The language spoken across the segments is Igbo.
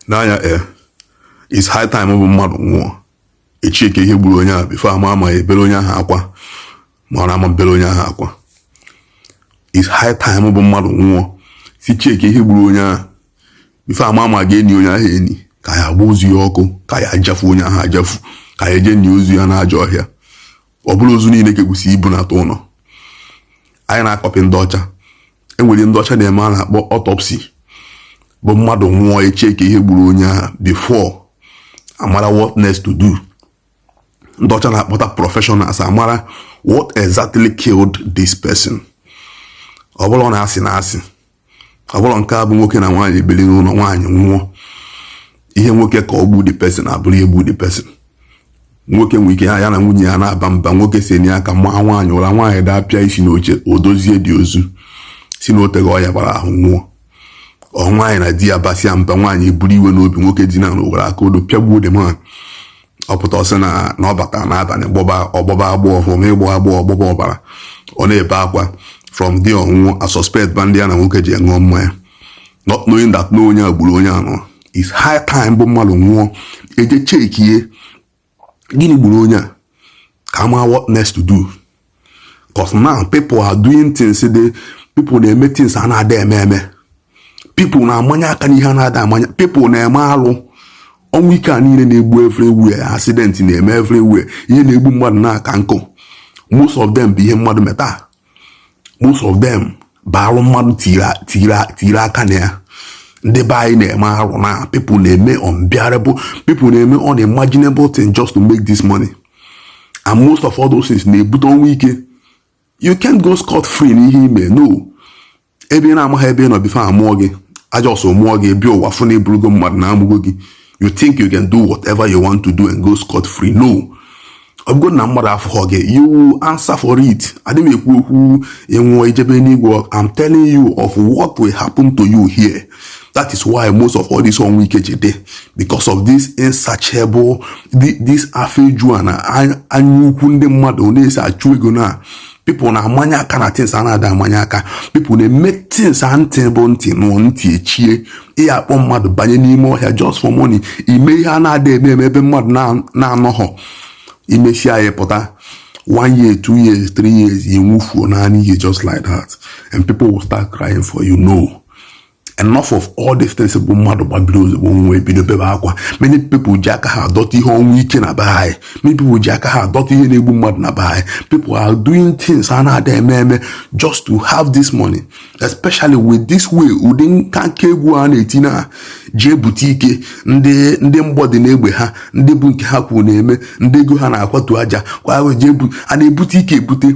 n'anya e eh, is high time bụ mmadụ nwụọ echekie ihe gburu onye ahụ before a ma ma a ya-ebere onye ahụ akwa ma ọ na ama ebere onye ahụ akwa is high time bụ mmadụ nwụọ si chekie ihe gburu onye ahụ before a ma ma a ga-eni onye ahụ eni ka a ya-agba ozu ya ọkụ ka a ya-ajafu onye ahụ ajafu ka a ya-eje nie ozu ya n'ajọ ọhịa ọ bụrọ ozu niile ka ekwesi ibunata ụlọ anyị na-akọpị ndị ọcha enwere ihe ndị ọcha na-eme a na-akpọ autopsy bụ mmadụ nwụọ echekie ihe gburu onye ahụ before amara what next to do ndị ọcha na-akpọta professionals amara what exactly killed this person ọ bụrọ na asị na asị ọ bụrọ nke a bụ nwoke na nwaanyị biri n'ụlọ nwaanyị nwụọ ihe nwoke kọ gbu the person abụrụ ihe gbu the person nwoke nwere ike ya na nwunye ya na-aba mba nwoke senie aka maa nwaanyị ụra nwaanyị dapịa isi n'oche o dozie the ozu sị na oteghị ọya gbara ahụ nwụọ or nwaanyị na di ya basịa mba nwaanyị eburu iwe n'obi nwoke dina ana o were aka odo pịagbuo the man ọ pụta ọ sị na ọ bata n'abalị gbọba agbọ from ịgbọ agbọ ọ gbọba ọbara ọ na-ebe akwa from there ọ nwụọ a suspect ba ndị ya na nwoke ji ṅụọ mmanya not knowing that na onye a gburu onye a no is high time bụ mmadụ nwụọ eje chekie gịnị gburu onye a ka ama what next to do cos now people are doing things the people na-eme things a na-ada eme eme people na-amanye aka n'ihe a na-ada amanye people na-eme alụ ọnwụ ike a niile na-egbu everywhere accident na-eme everywhere ihe na-egbu mmadụ na-aka nkụ most of them bụ ihe mmadụ meta most of them bụ arụ mmadụ tiri aka na ya ndị be anyị na-eme arụ now people na-eme unbearable people na-eme unimaginable thing just to make this money and most of all those things na-ebute ọnwụ ike you can't go scot free n'ihe i me no ebe ị na-amaghị ebe ị nọ before amụọ gị a just mụọ gị bịa ụwa fụ na ị bụrụgo mmadụ na amụgo gị you think you can do whatever you want to do and go scot free no ọ bụgo na mmadụ afụghọ gị you answer for it adịghị m ekwu okwu ị nwụọ i jebe enigwe I'm telling you of what will happen to you here that is why most of all this ọnwụ ike ji dị because of this insatiable this afọ eju na anya ukwu ndị mmadụ na-esi achụ ego now people na-amanye aka na things a na-ada amanye aka people na-eme things a ntị bụ ntị nụọ ntị echie ị ya-akpọ mmadụ banye n'ime ọhịa just for money i me ihe a na-ada eme eme ebe mmadụ na-anọghọ i mechaa ya ị pụta one year two years three years you move for nine years just like that and people will start crying for you no enough of all these things bụ mmadụ gbabiri ozugbo nwa ebido bebe akwa many people ji aka ha adọta ihe ọnwụ ike na be anyị many people ji aka ha adọta ihe na-egbu mmadụ na be anyị people are doing things a na-ada eme eme just to have this money especially with this way ụdị nka nke egwu a na-eti na jee bute ike ndị mgbọ dị n'egbe ha ndị bụ nke ha kwuru na-eme ndị ego ha na-akwatu aja kwa a na-ebute ike ebute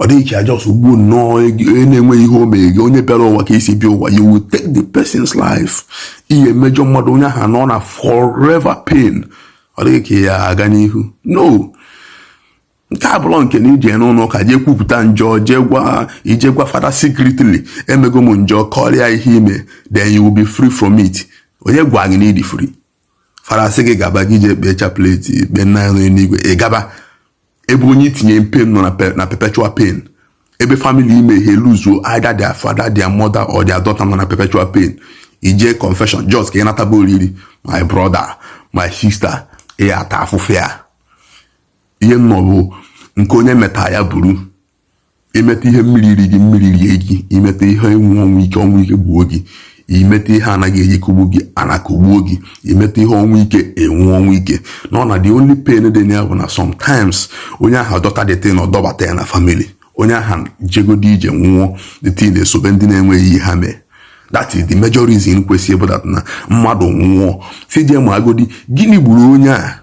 ọ dịghị ka ị just gbuo nnọọ onye na-enweghị ihe o mere gị onye bịara ụwa ka i si bịa ụwa you will take the person's life ị ya emejọ mmadụ onye ahụ nọ na forever pain ọ dịghị ka ya aga n'ihu no nke a abụrọ nke na i je n'ụlọ ụka jee kwupụta njọ jee gwa i je gwa fada secretly emego m njọ kọrọ ya ihe i me then you will be free from it onye gwa gị na ị dị free fada sị gị gaba gị je kpee chaplet kpee nna anyị n'elu igwe ị gaba ebe onye i tinye na pain nọ na perpetual pain ebe family i me ha luzuo either their father their mother or their daughter nọ na perpetual pain i je confession just ka ị nataba oriri my brother my sister ị ya ata afụfụ ya ihe nnọ bụ nke onye meta ya buru i meta ihe mmiri iri gị mmiri rie gị i meta ihe ịnwụ ọnwụ ike ọnwụ ike gbuo gị i meta ihe ana ga-eji kụgbu gị ana akụgbuo gị i meta ihe ọnwụ ike ị nwụọ ọnwụ ike na ọ na the only pain dị na ya bụ na sometimes onye ahụ dọta the thing ọ dọbata ya na family onye ahụ jegodi jee nwụọ the thing esobe ndị na-enweghị ihe ha mee that is the major reason kwesịrị ịbụ that na mmadụ nwụọ sị jee maagodi gịnị gburu onye a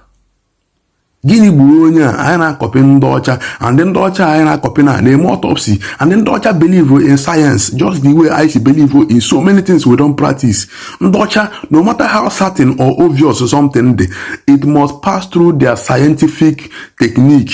gịnị gburu onye a anyị na-akọpị ndị ọcha and ndị ọcha anyị na-akọpị na na-eme autopsy and ndị ọcha believe in science just the way anyị si believe in so many things we don't practice ndị ọcha no matter how certain or obvious something dị it must pass through their scientific technique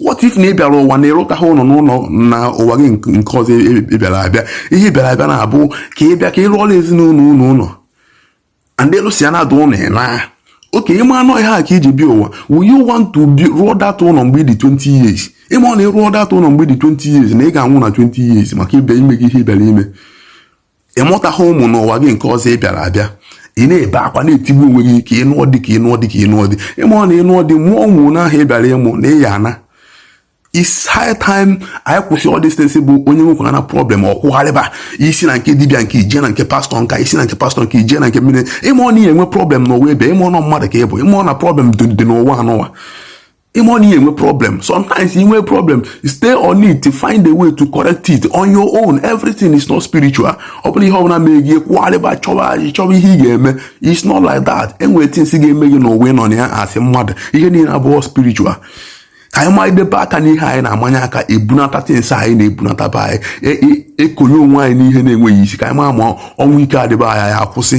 what if na ị bịara ụwa na ị rụtaghị ụlọ n'ụlọ na ụwa gị nke ọzọ ị bịara abịa ihe ị bịara abịa na-abụ ka ị bịa ka ị rụọra ezinụlọ unu ụlọ and ị rụsịa that ụlọ ị naa okay ị ma na ọ ihe a ka i ji bịa ụwa will you want to rụọ that ụlọ mgbe ị dị 20 years ị marọ na ị rụọ that ụlọ mgbe ị dị 20 years na ị ga-anwụ na 20 years maka ị bịa i mego ihe ị bịara ime ị mụtaghị ụmụ n'ụwa gị nke ọzọ ị bịara abịa ị na-ebe akwa na-etigbu onwe gị ka ị nụọ di ka ị nụọ di ka ị nụọ di ị marọ na ị nụọ di mụọ ụmụ n'ahụ ị bịara ịmụ na ị ya ana it's high time anyị kwụsị all these things bụ onye nwekwana problem ọ kwụgharịba i si na nke dibịa nke a i je na nke pastọ nke a i si na nke pastọ nke a i je na nke mmiri ị marọ na ị ya enwe problem n'ụwa ebe a ị marọ na mmadụ ka ị bụ ị marọ na problem dị n'ụwa anụwa ịma na ihe enwe problem sometimes inwe problem stay on it to find a way to correct it on your own everything is not spiritual ọ bụrụ ihe ọbụla mee gị kwụgharịba chọba anyị chọba ihe ị ga-eme it's not like that enwere things ga-eme gị n'ụwa ịnọ na ya as mmadụ ihe niile abụrọ spiritual ka anyị manyedebe aka n'ihe anyị na-amanye aka ebunata things anyị na-ebunata be anyị e, e, ekonye onwe anyị n'ihe na-enweghị isi ka anyị ma ma ọnwụ ike a dị be anyị akwụsị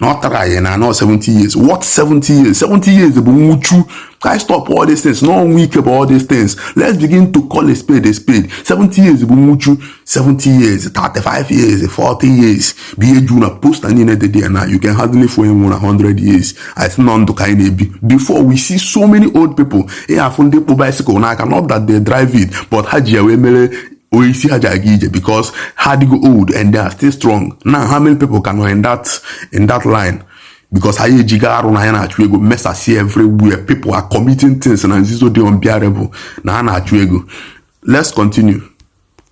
na ọ tara anyị na-anọ 70 years what 70 years 70 years bụ nwụchu ka anyị stop all these things na ọnwụ ike bụ all these things let's begin to call a spade a spade 70 years bụ nwụchu 70 years 35 years 40 years bụ ihe juru na poster niile dị dị now you can hardly fụ onye nwụrụ 100 years I think na ọ ndụ ka anyị na-ebi before we see so many old people ị afụ ndị kpụ bicycle n'aka not that they drive it but ha ji ya wee mere osisi ha ji aga ije because ha adịgo old and they are still strong now how many people ka nọ in that line because anyị ejigo arụ na ya na-achụ ego mesasịa everywhere people are committing things na nzizo dị unbearable na ha na-achụ ego let's continue